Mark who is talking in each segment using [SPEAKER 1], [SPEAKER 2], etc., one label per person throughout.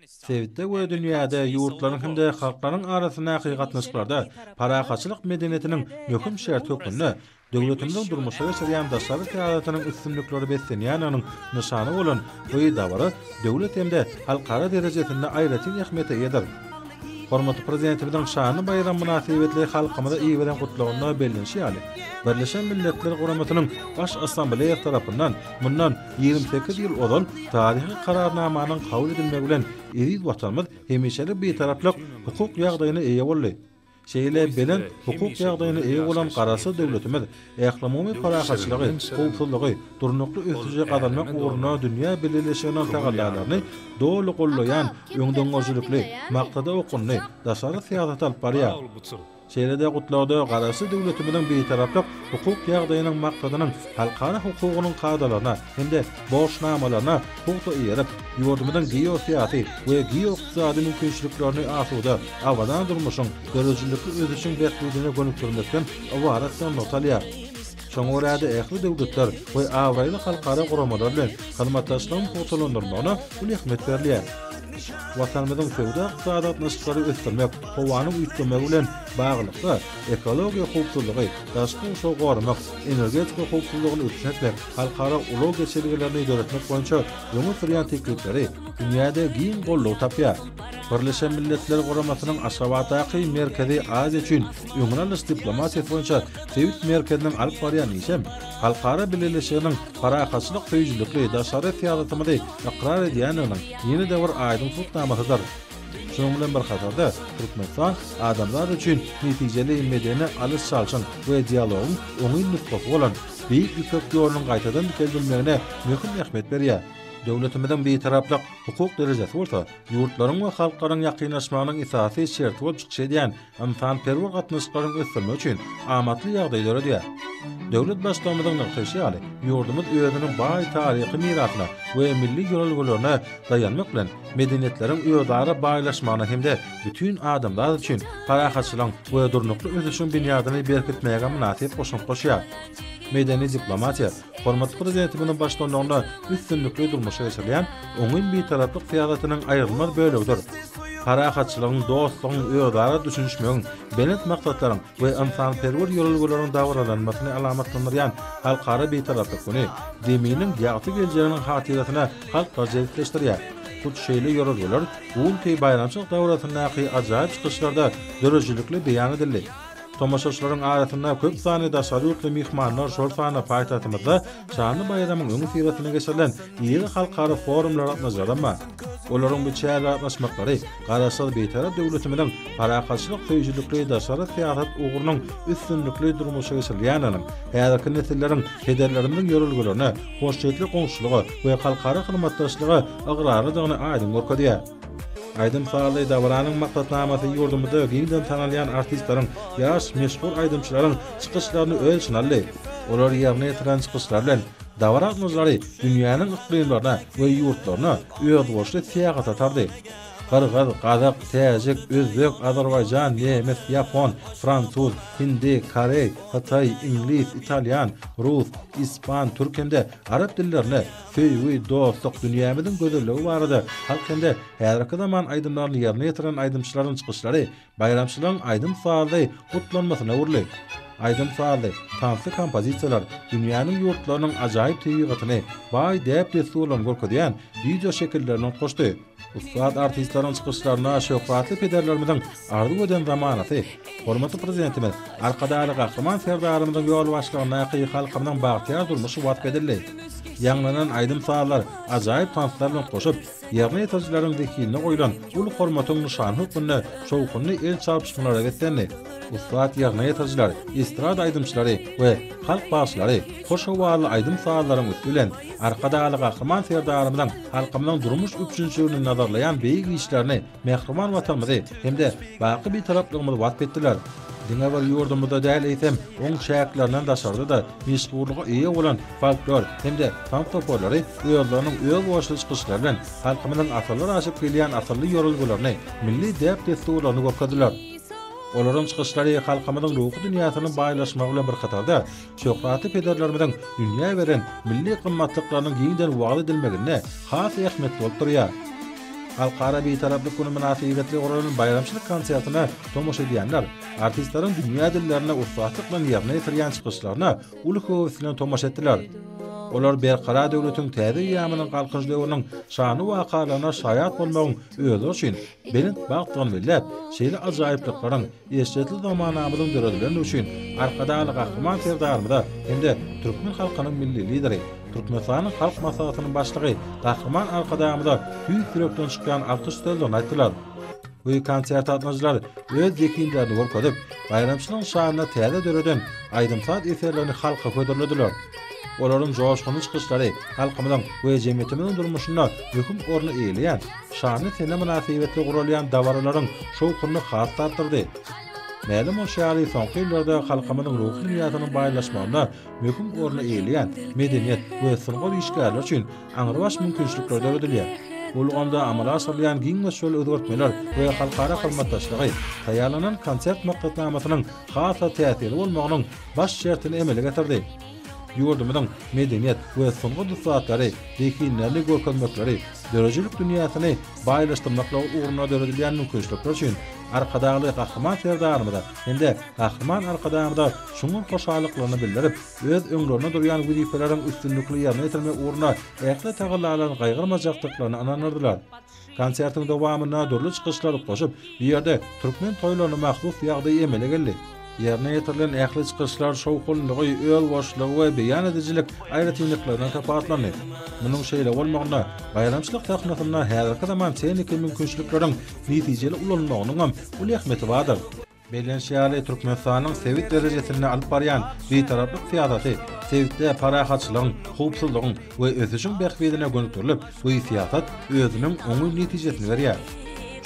[SPEAKER 1] Sebitde we dünýäde ýurtlaryň hem-de halklaryň arasyndaky gatnaşyklarda parahatçylyk medeniýetiniň möhüm şerti hökmünde döwletimiziň durmuşa geçirýän daşary syýasatynyň üstünliklere beslenýändiginiň nyşany bolan bu dabara döwlet hem-de halkara derejesinde aýratyn ähmiýete eýedir. Hormatly Prezidentimiziň şanly baýramy mynasybetli halkymyza iberen Gutlagynda bellenişi ýaly, Birleşen Milletler Guramasynyň Baş Assambleýasy tarapyndan mundan Ýigrimi sekiz ýyl ozal taryhy Kararnamanyň kabul edilmegi bilen eziz Watanymyz hemişelik Bitaraplyk hukuk ýagdaýyna eýe boldy. Şeýle belent hukuk ýagdaýyna eýe bolan Garaşsyz döwletimiz ählumumy parahatçylygy, howpsuzlygy, durnukly ösüşi gazanmak ugrunda dünýä bileleşiginiň tagallalaryny doly goldaýan öňdengörüjilikli, maksada okgunly daşary syýasaty alyp barýar. Şeýle-de Gutlagda Garaşsyz döwletimiziň Bitaraplyk hukuk ýagdaýynyň maksadynyň halkara hukugynyň kadalaryna hem-de borçnamalaryna pugta eýerip, ýurdumyzyň geosyýasy we geoykdysady mümkinçiliklerini asuda, abadan durmuşyň, döredijilikli ösüşiň bähbidine gönükdirmekden ybaratdygy nygtalýar. Şoňa görä-de, ähli döwletler we abraýly halkara guramalar bilen hyzmatdaşlygyň pugtalandyrylmagyna uly ähmiýet berilýär. Watanymyzyň söwda-ykdysady gatnaşyklary ösdürmek, howanyň üýtgemegi bilen baglylykda, ekologiýa howpsuzlygy, daşky gurşawy goramak, energetika howpsuzlygyny üpjün etmek, halkara ulag geçelgelerini döretmek boýunça öňe sürýän teklipleri dünýäde giň goldaw tapýar. Birleşen Milletler Guramasynyň Aşgabatdaky Merkezi Aziýa üçin öňüni alyş diplomatiýasy boýunça sebit merkeziniň alyp barýan işi hem halkara bileleşiginiň parahatçylyk söýüjilikli daşary syýasatymyzy ykrar edýändiginiň ýene-de bir aýdyň subutnamasydyr. Şunuň bilen bir hatarda, Türkmenistan adamzat üçin netijeli medeni alyş-çalşyň we dialogyň oňyn nusgasy bolan Beýik Ýüpek ýolunyň gaýtadan dikeldilmegine möhüm ähmiýet berýär. Döwletimiziň Bitaraplyk hukuk derejesi bolsa ýurtlaryň we halklaryň ýakynlaşmagynyň esasy şerti bolup çykyş edýän ynsanperwer gatnaşyklaryň ösdürmek üçin amatly ýagdaý döredýär. Döwlet Baştutanynyň nygtaýşy ýaly, ýurdumyz özüniň baý taryhy mirasyna we milli ýörelgelerine daýanmak bilen, medeniýetleriň özara baýlaşmagyna hem-de bütin adamzat üçin parahatçylygyň we durnukly ösüşiň binýadyny berkitmäge mynasyp goşant goşýar. Medeni diplomatiýa Hormatly Prezidentimiziň baştutanlygynda üstünlikli durmuşa geçirilýän oňyn Bitaraplyk syýasatynyň aýrylmaz bölegidir. Parahatçylygyň, dostlugyň, özara düşünişmegiň, belent maksatlaryň we ynsanperwer ýörelgeleriň dabaralanmasyny alamatlandyrýan Halkara Bitaraplyk güni Zeminiň ýagty geljeginiň hatyrasyna halklary jebisleşdirýär. Hut şeýle ýörelgeler bu günki baýramçylyk dabarasyndaky ajaýyp çykyşlarda döredijilikli beýan edildi. Tomaşaçylaryň arasynda köp sanly daşary ýurtly myhmanlar, şol sanda paýtagtymyzda şanly baýramyň öňüsyrasynda geçirilen iri halkara forumly gatnaşyjaram bar. Olaryň bu çärä gatnaşmaklary Garaşsyz Bitarap döwletimiziň parahatçylyk söýüjilikli daşary syýasat ugrunyň üstünlikli durmuşa geçirilýändiginiň, häzirki nesilleriň pederlerimiziň ýörelgelerine, hoşniýetli goňşulyga we halkara hyzmatdaşlyga ygrarlydygyny aýdyň görkezýär. Aýdym-sazly dabaranyň maksatnamasy ýurdumyzda giňden tanalýan artistleriň, ýaş, meşhur aýdymçylaryň çykyşlaryny öz içine aldy. Olar ýerine ýetiren çykyşlary bilen dabara gatnaşyjylary dünýäniň yklymlaryna we ýurtlaryna özboluşly syýahat atardy. Gyrgyz, gazak, täjik, özbek, azerbaýjan, nemes, ýapon, fransuz, hindi, koreý, hytaý, iňlis, italýan, rus, ispan, türk hem-de arap dillerinde Söýgi, dostluk, dünýämiziň gözelligi barada halk hem-de häzirki zaman aýdymlaryny ýerine ýetiren aýdymçylaryň çykyşlary baýramçylygyň aýdym-sazly gutlanymasyna öwrüldi. Aýdym-sazly, tansly kompozisiýalar, dünýäniň ýurtlarynyň ajaýyp tebigatyny, baý däp-dessurlaryny görkezýän wideoşekilleriniň koşty. Ussat artistleriň çykyşlaryna şöhratly pederlerimiziň arzuw eden zamanasy, hormatly Prezidentimiz Arkadagly Gahryman Serdarymyzyň ýolbaşçylygyndaky halkymyzyň bagtyýar durmuşy wasp edildi. Ýaňlanan aýdym-sazlar, ajaýyp tanslar bilen goşup, ýerine ýetirijileriň zehinine goýlan uly hormatyň nyşany hökmünde şowhunly el çarpyşmalara beslendi. Ussat ýerine ýetirijiler, estrada aýdymçylary we halk bagşylary hoş howally aýdym-sazlaryň üsti bilen Arkadagly Gahryman Serdarymyzyň Halkymyzyň durmuş üpjünçiligini nazarlaýan beýik işlerini, mähriban Watanymyzy hem-de baky Bitaraplygymyzy wasp etdiler. Diňe bir ýurdumyzda däl, eýsem, oň çäklerinden daşarda-da meşhurlyga eýe bolan folklor hem-de tans toparlary özleriniň özboluşly çykyşlary bilen halkymyzyň asyrlar aşyp gelýän asylly ýörelgelerini, milli däp-dessurlaryny görkezdiler. Olaryň çykyşlary halkymyzyň ruhy dünýäsiniň baýlaşmagy bilen bir hatarda, Şöhratly pederlerimiziň dünýä beren milli gymmatlyklarynyň giňden wagyz edilmeginde has ähmiýetli bolup durýar. Halkara Bitaraplyk güni mynasybetli guralan baýramçylyk konsertine tomaşa edýänler artistleriň dünýä dillerinde ussatlyk bilen ýerine ýetirýän çykyşlaryna uly höwes bilen tomaşa etdiler. Olar Berkarar döwletiň täze eýýamynyň Galkynyş döwrüniň şanly wakalaryna şaýat bolmagyň özleri üçin belent bagtdygyny belläp, şeýle ajaýyplyklaryň Eşretli zamanamyzyň döredilenligi üçin Arkadagly Gahryman Serdarymyza hem-de türkmen halkynyň Milli Lideri, Türkmenistanyň Halk Maslahatynyň Başlygy Gahryman Arkadagymyza tüýs ýürekden çykýan alkyş sözlerini aýtdylar we konsert gatnaşyjylar öz zehinlerini görkezip, baýramçylygyň şanyna täze döreden aýdym-saz eserlerini halka hödürlediler. Olaryň joşgunly çykyşlary halkymyzyň we jemgyýetimiziň durmuşynda möhüm orny eýeleýän, Şanly sene mynasybetli guralýan dabaralaryň şowhuny has-da artdyrdy. Mälim bolşy ýaly, soňky ýyllarda halkymyzyň ruhy mirasynyn baýlaşmagynda möhüm orny eýeleýän medeniýet we sungat işgärleri üçin aňrybaş mümkinçilikler döredilýär. Bu ulgamda amala aşyrylýan giň möçberli özgertmeler we halkara hyzmatdaşlygy taýýarlanan konsert maksatnamasynyň has-da täsirli bolmagynyň baş şertini emele getirdi. Ýurdumyzyň medeniýet we sungat ussatlary zehinlerini görkezmekleri, döredijilik dünýäsini baýlaşdyrmaklygy ugrunda döredilýän mümkinçilikler üçin Arkadagly Gahryman Serdarymyza hem-de Gahryman Arkadagymyza çuňňur hoşallyklaryny bildirip, öz öňlerinde durýan wezipeleriň üstünlikli ýerine ýetirilmegi ugrunda ähli tagallalaryny gaýgyrmajakdyklaryny ynandyrdylar. Konsertiň dowamynda dürli çykyşlar goşup, bu ýerde türkmen toýlaryna mahsus ýagdaý emele geldi. Ýerine ýetirilen ähli çykyşlar şowhunlygy, özboşlugy we beýan edijilik aýratynlyklaryndan sapatlandy. Munuň şeýle bolmagynda baýramçylyk sahnasynda häzirki zaman tehniki mümkinçilikleriň netijeli ulanylmagynyňam uly ähmiýeti bardyr. Bellenişi ýaly, Türkmenistanyň sebit derejesinde alyp barýan Bitaraplyk syýasaty sebitde parahatçylygyň, howpsuzlygyň we ösüşiň bähbidine gönükdirilip, bu syýasat özüniň oňyn netijesini berýär.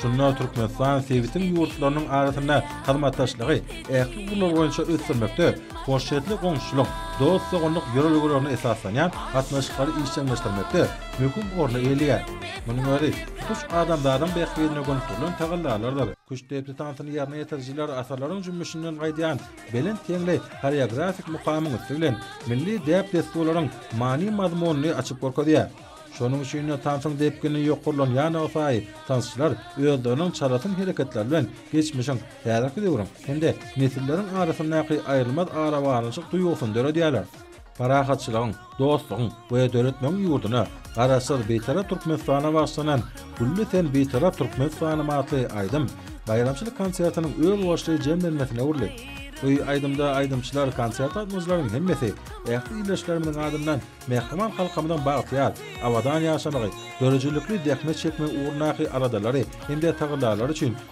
[SPEAKER 1] Şunda Türkmenistan sebitiň ýurtlarynyň arasynda hyzmatdaşlygy ähli ugurlar boýunça ösdürmekde hoşniýetli goňşuçylyk, dost-doganlyk ýörelgelerine esaslanýan gatnaşyklary işjeňleşdirmekde möhüm orny eýeleýär. Munuň özi tutuş adamzadyň bähbidine gönükdirilen tagallalardyr. Küştdepdi tansyny ýerine ýetirijiler asyrlaryň jümmüşinden gaýdýan belent geňli horeografik mukamyň üsti bilen milli däp-dessurlaryň many-mazmunyny açyp görkezýär. Şonuň üçin-de tansyň depgini ýokarlanýanlygysaýy tansçylar özleriniň çalasyn hereketleri bilen geçmişiň, häzirki döwrüň hem-de nesilleriň arasyndaky aýrylmaz arabaglanyşyk duýgusyny döredýärler. parahatçylygyň, dostlugyň we döretmegiň ýurduna, Garaşsyz, Bitarap Türkmenistana bagyşlanan Gülli sen Bitarap Türkmenistanym atly aýdym baýramçylyk konsertiniň özboluşly jemlenmesine öwrüldi. Bu aýdymda aýdymçylar, konsert gatnaşyjylaryň hemmesi ähli ildeşlerimiziň adyndan mähriban halkymyzyň bagtyýar, abadan ýaşamagy, döredijilikli zähmet çekmegi ugrundaky aladalary hem-de tagallalary üçin